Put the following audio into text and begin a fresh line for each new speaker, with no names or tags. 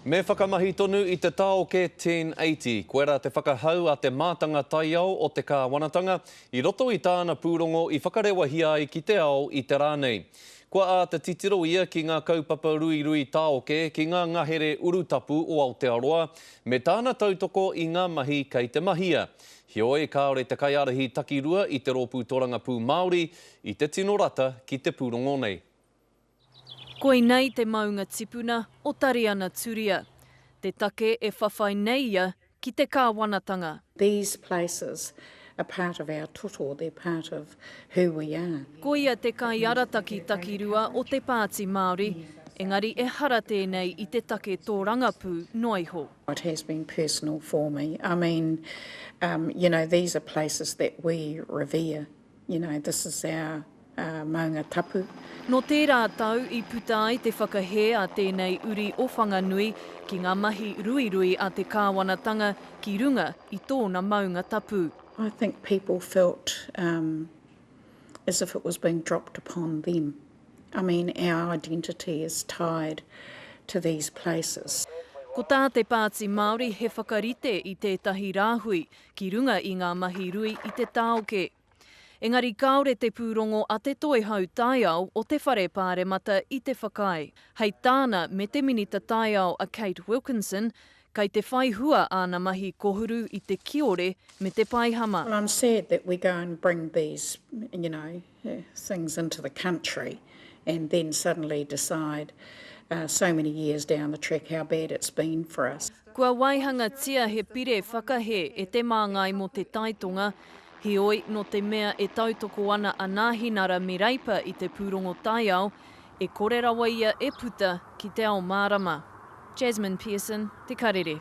Me whakamahi tonu i te taoke 1080. Koe ra te whakahau a te mātanga taiao o te Kāwanatanga i roto i tāna pūrongo i whakarewahia ai ki te ao i te rā nei. Kua āta titiro ia ki ngā kaupapa ruirui taoke ki ngā ngahere urutapu o Aotearoa me tāna tautoko i ngā mahi kei te mahia. Heoi, kāore te kaiārahi takirua i te Rōpū Torangapū Māori i te tino rata ki te pūrongo nei.
Koinei te maunga tipuna o Tariana Turia, te take e whawhai nei ia ki te kāwanatanga. These places
are part of our toto, they're part of who we are. Ko ia te
kaiarataki takirua o te Pāti Māori, engari ehara tēnei i te take tōrangapū noa iho. It has been
personal for me. I mean, you know, these are places that we revere. You know, this is our maunga tapu. Nō tērā
tau i puta ai te whakahē a tēnei uri o Whanganui ki ngā mahi ruirui a te kāwanatanga ki runga i tōna maunga tapu. I think people
felt um as if it was being dropped upon them. I mean, our identity is tied to these places. Ko tā te
Pāti Māori he whakarite i tētahi rāhui ki runga i ngā mahi rui i te tāoke. Engari kāore te pūrongo a te Toihau Taiao o te Whare Pāremata i te whakaae. Hei tāna me te Minita Taiao a Kate Wilkinson, kai te whai hua āna mahi kohuru i te kiore me te paihama. Well I'm sad that we
go and bring these you know things into the country and then suddenly decide so many years down the track how bad it's been for us. Kua waihangatia
he pire whakahē e Te Māngai mō Te Taitonga, heoi, nō te mea e tautoko ana a Nāhinara me Reipa i te pūrongo taiao, e kore rawa ia e puta ki te ao mārama. Jasmine Pearson, Te Karere.